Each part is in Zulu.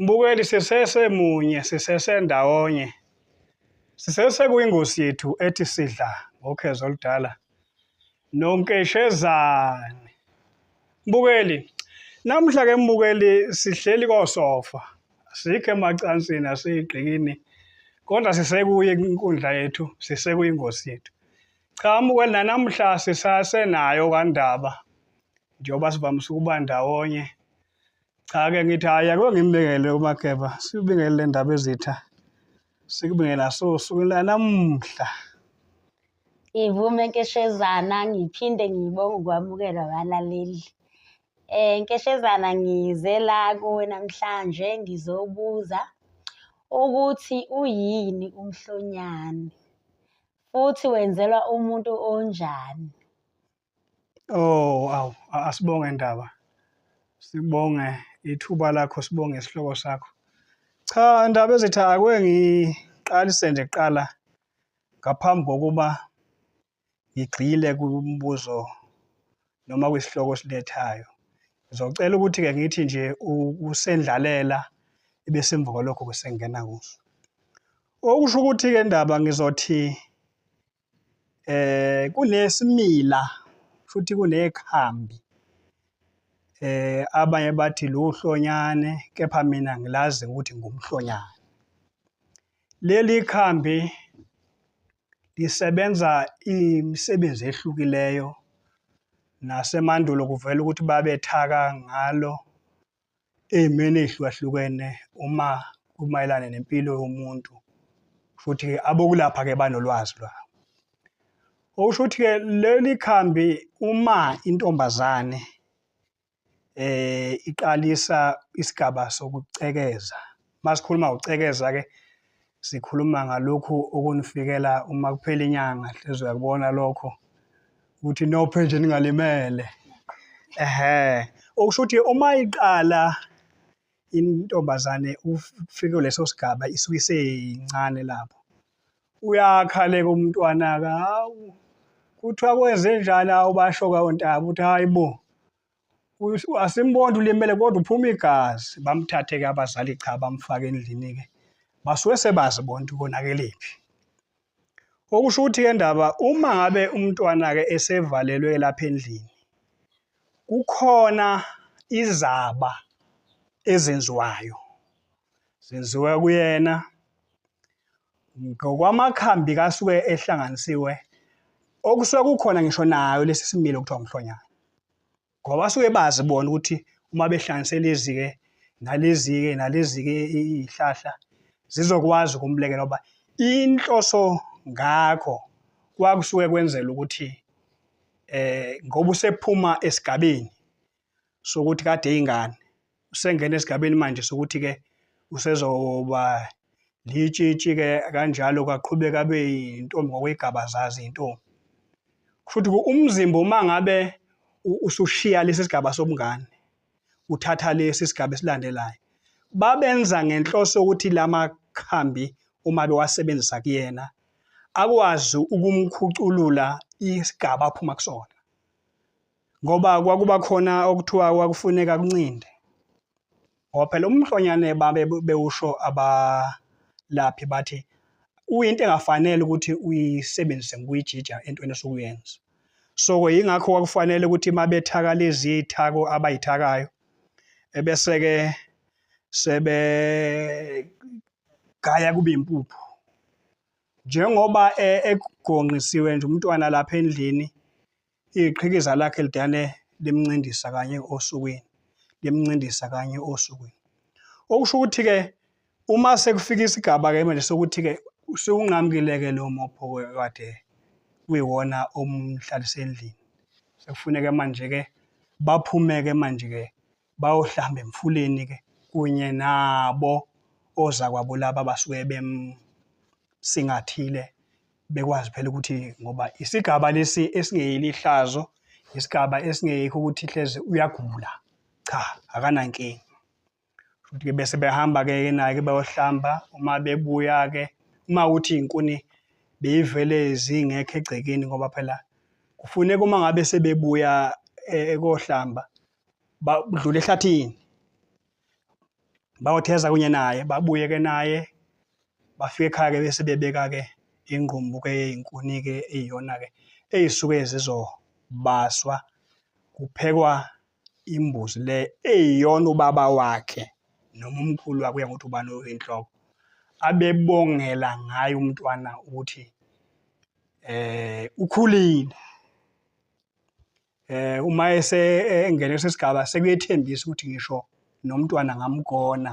Mbukeli sisese munye sisese ndawonye sisese kuyingosi yethu ethi sidla ngokhezo oludala nonkeshezane mbukeli namhla ke mbukeli sihleli kosofa sikho emacansini asiyigqikini kodwa sisekuye inkundla yethu sisekuyingosi yethu cha mbukeli nanamhla sisasenayo kandaba njengoba sivamise ukuba ndawonye cha ke ngithi hayi ake ngimbekele umakeba sibingele le ndaba ezitha sikubingela so sukela namuhla ngivume nkeshezana ngiphinde ngibonge ukwamukelwa abalaleli eh nkeshezana ngize la kuwe namhlanje ngizobuza ukuthi uyini umhlonyane futhi wenzelwa umuntu onjani Oh, awu asibonge ndaba. Sibonge ithuba lakho, sibonge isihloko sakho. Cha ndaba ezithi akwe ngiqalise nje kuqala ngaphambi kokuba ngigxile kumbuzo noma kwisihloko silethayo. Ngizocela ukuthi-ke ngithi nje usendlalela ebesemva kwalokho kusengena kuso. Okusho ukuthi-ke ndaba ngizothi eh kunesimila futhi kunekhambi eh abanye bathi luhlonyane kepha mina ngilazi ukuthi ngumhlonyane leli khambi lisebenza imisebenzi ehlukileyo nasemandulo kuvela ukuthi babethaka ngalo ey'meni ey'hlukahlukene uma kumayelana nempilo yomuntu futhi abokulapha-ke banolwazi lwawo okusho ukuthi-ke leli khambi uma intombazane eh iqalisa isigaba sokucekeza masikhuluma ucekeza ke sikhuluma ngalokhu okunifikela uma kuphela inyanga hlezi uyakubona lokho ukuthi nophe nje ningalimele ehe okusho ukuthi uma iqala intombazane ufike leso sigaba isuke iseyincane lapho uyakhaleka umntwana-ke hawu kuthiwa kwenze njani awubasho kawontabi ukuthi hhayi bo asimboni ulimele kodwa uphuma igazi bamthathe-ke abazali cha bamfake endlini-ke basuke sebazi bonke konakelephi okusho ukuthi-ke ndaba uma ngabe umntwana-ke esevalelwe lapha endlini kukhona izaba ezenziwayo zenziwa kuyena ngokwamakhambi kasuke ehlanganisiwe okusuke kukhona ngisho nayo lesi similo kuthiwa umhlonyana ngoba basuke bazi bona ukuthi uma behlanganise lezi-ke nalezi-ke nalezi-ke iy'hlahla zizokwazi ukumlekela uba inhloso ngakho kwakusuke kwenzela ukuthi eh ngoba usephuma esigabeni sokuthi kade ingane usengena esigabeni manje sokuthi ke usezoba litshitshi ke kanjalo kaqhubeka abe intombi ngokwegaba zazi intombi futhi umzimba uma ngabe usushiya lesi sigaba sobungane uthatha lesi sigaba esilandelayo babenza ngenhloso yokuthi lamakhambi uma bewasebenzisa kuyena akwazi ukumkhuculula isigaba aphuma kusona ngoba kwakuba khona okuthiwa kwakufuneka kuncinde ngoba phela umhlonyane babe bewusho abalaphi bathi uyinto engafanele ukuthi uyisebenzise ngokuyijija entweni esuke uyenza so-ke yingakho kwakufanele ukuthi uma bethaka lezi iy'thako abayithakayo ebese-ke sebegaya kube impuphu njengoba e, egonqisiwe nje umntwana lapha endlini Iqhikiza lakhe lidane limncindisa kanye osukwini, limncindisa kanye osukwini. Okusho ukuthi-ke uma sekufika isigaba-ke manje sokuthi-ke sewunqamukile-ke lowo mopho kade kuyiwona omhlalise endlini. Sekufuneke manje-ke baphume-ke manje-ke bayohlamba emfuleni ke kunye nabo ozakwabo laba basuke bemsingathile bekwazi phela ukuthi ngoba isigaba lesi esingeyeli ihlazo isigaba esingeyikho ukuthi hleze uyagula cha akanankinga futhi ke bese behamba ke naye ke bayohlamba uma bebuya ke uma uthi inkuni beyivele zingekho egcekeni ngoba phela kufuneka uma ngabe sebebuya eh, ekohlamba badlula ehlathini bayotheza kunye naye babuye ke naye bafike ekhaya ke bese bebeka ke ingqumbu ke eyinkuni ke eyiyona ke eyisuke zizobaswa kuphekwa imbuzi le eyiyona ubaba wakhe noma umkhulu wakuya ngokuthi ubani oyinhloko abebongela ngayo umntwana ukuthi eh ukhulile eh uma ese engene sesigaba sekuyethembisa ukuthi ngisho nomntwana ngamgona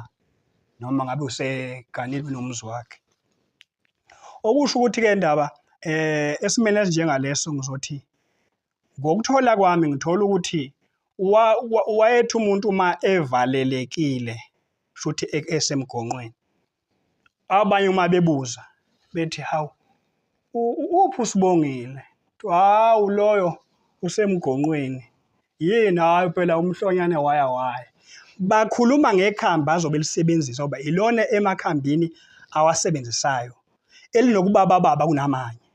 noma ngabe useganile nomzi wakhe okusho ukuthi ke ndaba eh esimene esinjengaleso ngizothi ngokuthola kwami ngithola ukuthi wayethi umuntu uma evalelekile futhi e-, esemgonqweni abanye uma bebuza bethi hawu uphi usibongile hawu loyo usemgonqweni yini hayi phela umhlonyane waya waya bakhuluma ngekhambi azobe lisebenzisa uba ilona emakhambini awasebenzisayo elinokubabababa kunamanye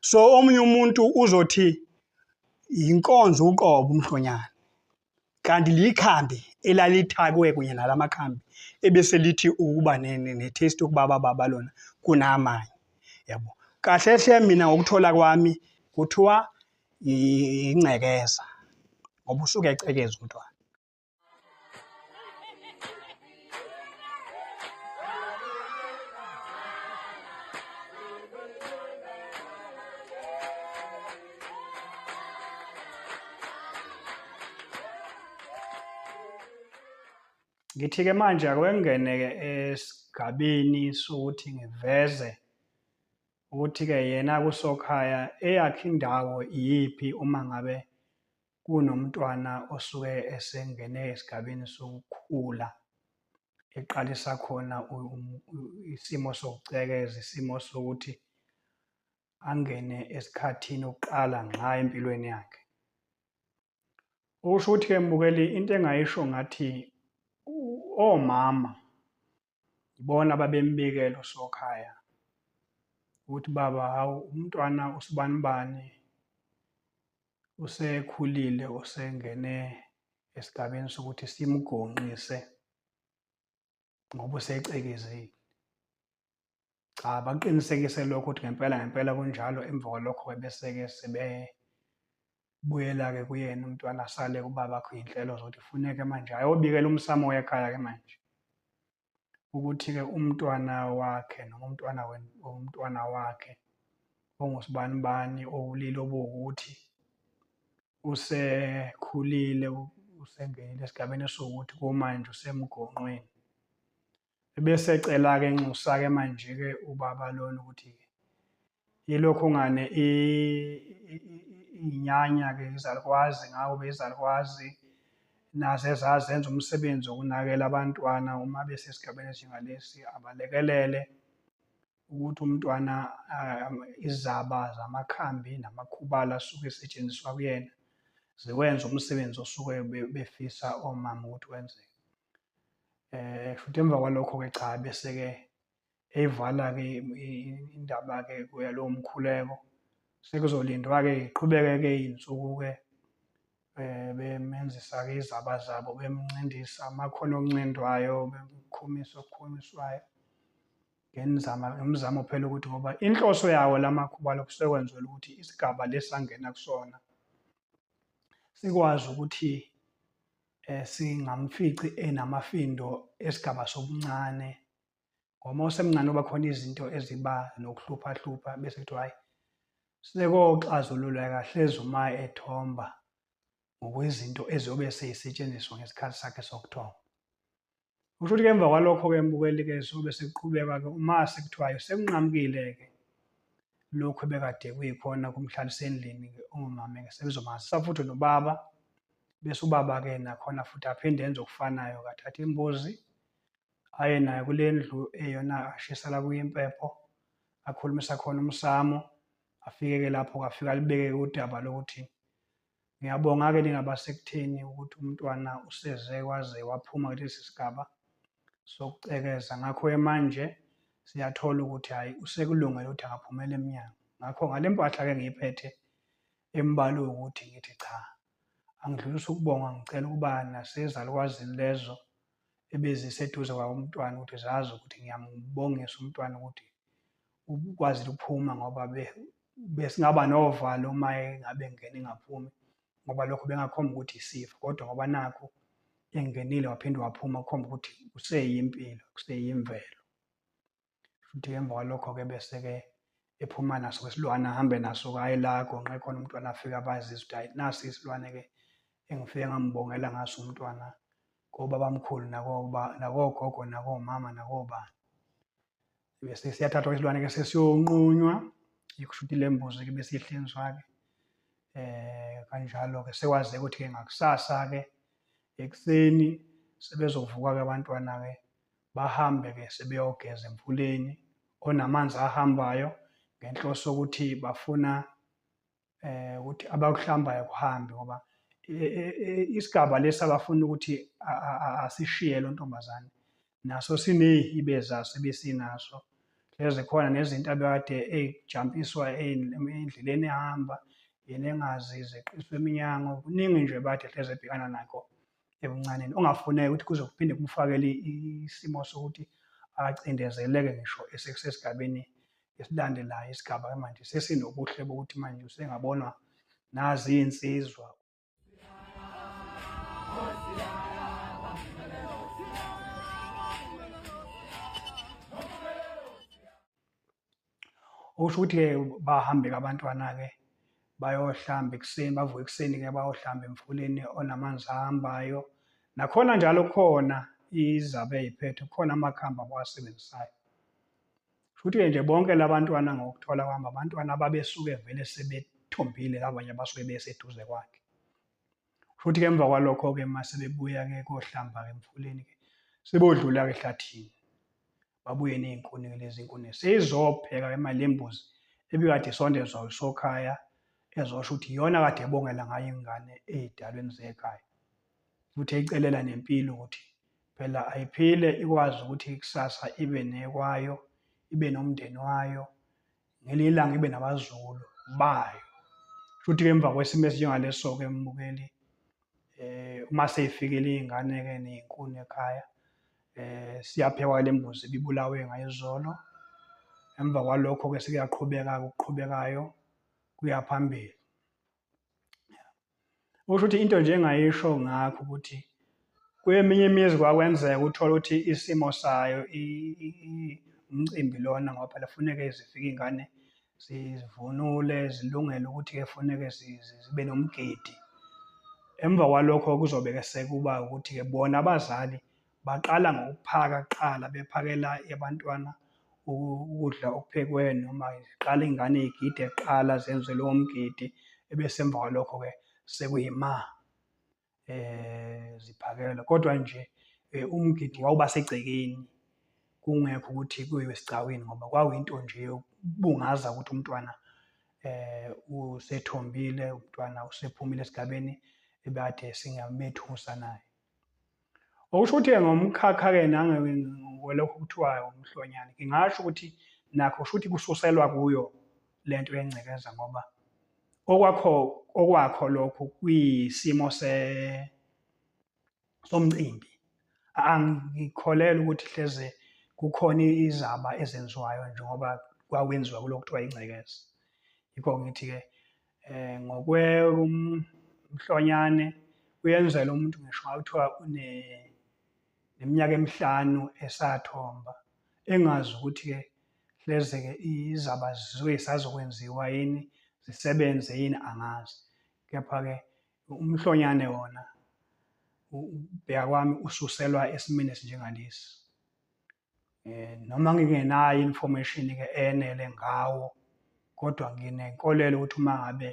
so omunye umuntu uzothi yinkonzo uqobo umhlonyane kanti likhambi elalithakwe kunye nala makhambi ebese lithi ukuba ne-taste yokuba bababa lona kunamanye yabo kahle hle mina ngokuthola kwami kuthiwa ingcekeza ngoba usuke ecekeza umntwana Ngithi-ke manje akwengene-ke esigabeni sokuthi ngiveze ukuthi-ke yena kusokhaya eyakhe indawo iyiphi uma ngabe kunomntwana osuke esengene esigabeni sokukhula eqalisa khona isimo sokucekeza isimo sokuthi angene esikhathini okuqala ngqa empilweni yakhe okusho ukuthi-ke mbukeli into engayisho ngathi omama Yibona ababembikela uSokhaya ukuthi baba hawu umntwana usibanibani usekhulile usengene esigabeni sokuthi simgonqise ngoba usecekizile. cha bakuqinisekise lokho ukuthi ngempela ngempela kunjalo emva kwalokho-ke bese-ke sebebuyela-ke kuyena umntwana asale kubabakho iy'nhlelo zokuthi kufuneke manje ayobikela umsamo wekhaya-ke manje ukuthi-ke umntwana wakhe noma umntwana umntwana wakhe ongusibani bani owulile obuwukuthi usekhulile usengenile esigabeni esiwukuthi kumanje usemgonqweni Ebese ecela-ke enxusa-ke manje-ke ubaba lona ukuthi yilokhu ngane iy'nyanya-ke izalukwazi ngawo bezalukwazi naze zazenza umsebenzi wokunakela abantwana uma besesigabeni esinjengalesi abalekelele ukuthi umntwana izaba zamakhambi namakhubala asuke esetshenziswa kuyena ziwenza umsebenzi osuke befisa omama ukuthi wenzeke eh futhi emva kwalokho ke cha bese ke eyivala ke indaba ke kuya lo mkhuleko sekuzolindwa ke iqhubeke ke insuku ke eh bemenzisa ke izaba zabo bemncindisa amakhono okuncindwayo bemkhumisa okukhumiswayo ngenzama ngimzamo phela ukuthi ngoba inhloso yawo lamakhuba lokusekwenzela ukuthi isigaba lesangena kusona sikwazi ukuthi eh, singamfici enamafindo esigaba sobuncane ngoba usemncane oba khona izinto eziba nokuhluphahlupha bese kuthiwa hhayi sekoxazululeka hlezi uma ethomba ngokwezinto eziyobe seyisetshenziswa ngesikhathi sakhe sokuthomba Kusho ukuthi-ke emva kwalokho-ke mbukeli-ke sobe sekuqhubeka-ke uma sekuthiwayo sekunqamukile-ke lokhu ebekade kuyikhona kumhlalisa endlini-ke ongumama-ke sebezomazisa futhi nobaba bese ubaba-ke nakhona futhi aphinde enze okufanayo kathatha imbuzi aye nayo kule ndlu eyona ashisela kuyo impepho akhulumisa khona umsamo afike-ke lapho-ke afike alibeke udaba lokuthi Ngiyabonga-ke ningabasektheni ukuthi umntwana useze waze waphuma kulesi sigaba sokucekeza. Ngakho-ke manje siyathola ukuthi hhayi usekulungele ukuthi angaphumela emnyango. Ngakho ngale mpahla-ke ngiyiphethe embalwe ukuthi ngithi cha, angidlulisa ukubonga ngicela ukuba nasezalukwazini lezo ebeziseduze kwawo umntwana ukuthi zazi ukuthi ngiyambongisa umntwana ukuthi ukwazi ukuphuma ngoba besingaba novalo uma engabe ngene engaphumi ngoba lokho bengakhomba ukuthi isifo kodwa ngoba nakho engenile waphinde waphuma kukhomba ukuthi useyimpilo kuseyimvelo futhi emva kwalokho-ke bese-ke ephuma naso isilwane ahambe naso kaye la gonqe khona umntwana afike abazise ukuthi hayi nasi isilwane-ke engifike ngambongela ngaso umntwana kobabamkhulu nakogogo nakomama nakobani bese siyathathwa isilwane ke sesiyonqunywa ikushuthi le mbuzi ke bese ihlinzwa-ke eh kanjalo-ke sekwazeka ukuthi-ke ngakusasa-ke ekuseni sebezovuka-ke abantwana-ke bahambe-ke sebeyogeza emfuleni onamanzi ahambayo ngenhloso yokuthi bafuna eh ukuthi abakuhlambayo kuhambe ngoba eh, eh, eh, isigaba lesi abafuna ukuthi asishiye lo ntombazane naso sinehibe zaso ebesinaso lezi khona nezinto abekade eyijampiswa endleleni ehamba yena engazi zeqiswa eminyango kuningi nje bathe hleze ebhekana nakho ebuncaneni ongafuneki ukuthi kuze kuphinde kumfakele isimo sokuthi acindezeleke ngisho esesigabeni esilandelayo isigaba manje sesinobuhle bokuthi manje usengabonwa nazi iy'nsizwa okusho ukuthi-ke bahambe-ke abantwana-ke bayohlamba ekuseni bavuke ekuseni-ke bayohlamba emfuleni onamanzi ahambayo nakhona njalo kukhona izabe eyiphethe kukhona amakhambi abawasebenzisayo futhi-ke nje bonke labantwana ngokuthola kwami abantwana ababesuke vele sebethombile abanye abasuke beseduze kwakhe futhi ke emva kwalokho-ke uma sebebuya-ke kohlamba-ke emfuleni-ke sebodlula-ke ehlathini babuye ney'nkuni lezi nkuni seyizopheka imali yembuzi ebikade isondezwa usokhaya ezosho ukuthi iyona kade ebongela ngayo ingane ey'dalweni zekhaya futhi eyicelela nempilo ukuthi phela ayiphile ikwazi ukuthi ikusasa ibe nekwayo ibe nomndeni wayo ngelinye ilanga ibe nabazukulu bayo futhi-ke emva kwesimo esinjengaleso-ke mbukeli eh uma seyifikile iy'ngane-ke ney'nkuni ekhaya eh siyaphekwa le mbuzi ibibulawe ngayizolo emva kwalokho-ke sekuyaqhubeka-ke okuqhubekayo kuya phambili Usho ukuthi into nje engayisho ngakho ukuthi kweminye imizi kwakwenzeka uthole ukuthi isimo sayo umcimbi lona ngoba phela funeke zifike iy'ngane zivunule zilungele ukuthi-ke funeke zibe nomgidi. Emva kwalokho kuzobe-ke sekuba ukuthi-ke bona abazali baqala ngokuphaka kuqala bephakela abantwana ukudla okuphekwe noma iqala ingane igide kuqala zenze lowo mgidi ebese emva kwalokho-ke sekuyima eh ziphakela kodwa nje eh, umgidi wawuba segcekeni kungekho ukuthi kuyiwe esigcawini ngoba kwakuyinto nje yokubungaza ukuthi umntwana eh usethombile umntwana usephumile esigabeni ebade singamethusa naye Okusho ukuthi-ke ngomkhakha-ke nangokwelokhu kuthiwayo umhlonyane, ngingasho ukuthi nakho shuthi kususelwa kuyo le nto yengcekeza ngoba okwakho okwakho lokhu kuyisimo se somcimbi angikholelwa ukuthi hleze kukhona izaba ezenziwayo njengoba kwakwenziwa kulokuthiwa ingcekeza yikho ngithi-ke eh ngokwe umhlonyane uyenzela umuntu ngisho ngakuthiwa une neminyaka emihlanu esathomba engazi ukuthi ke hleze ke izaba zizoke sazokwenziwa yini zisebenze yini angazi kepha ke umhlonyane wona ubheka kwami ususelwa esimini esinjengalesi eh, noma ngingenayo information ke enele ngawo kodwa nginenkolelo ukuthi uma ngabe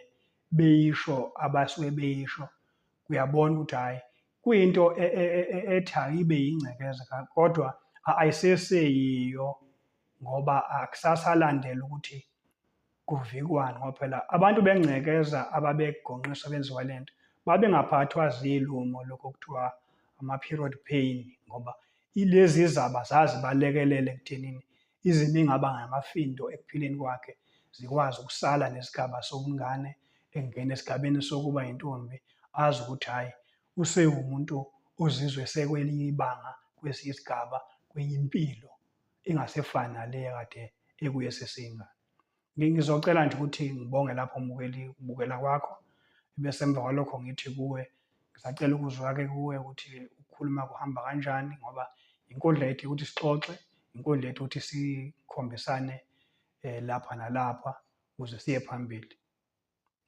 beyisho abasuke beyisho uyabona ukuthi hhayi kuyinto e, e, e, ethi ayibe yingcekeza kodwa ayiseseyiyo ngoba akusasalandela ukuthi Kuvikwani ngoba phela abantu bengcekeza ababegonqiswa benziwa le nto babengaphathwa zilumo lokho kuthiwa ama-period pain ngoba ilezi zaba zazibalekelele ekuthenini izimo ingaba ngamafindo ekuphileni kwakhe zikwazi ukusala nesigaba sobungane engena esigabeni sokuba yintombi azi ukuthi hhayi usewumuntu ozizwe sekwelinye ibanga kwesinye isigaba kwenye impilo engasefani nale kade ekuyo eseseyingane ngizocela nje ukuthi ngibonge lapho mbukeli ukubukela kwakho bese emva kwalokho ngithi kuwe ngisacela ukuzwa-ke kuwe ukuthi ukukhuluma kuhamba kanjani ngoba inkundla yethu ukuthi sixoxe inkundla yethu ukuthi sikhombisane um lapha nalapha ukuze siye phambili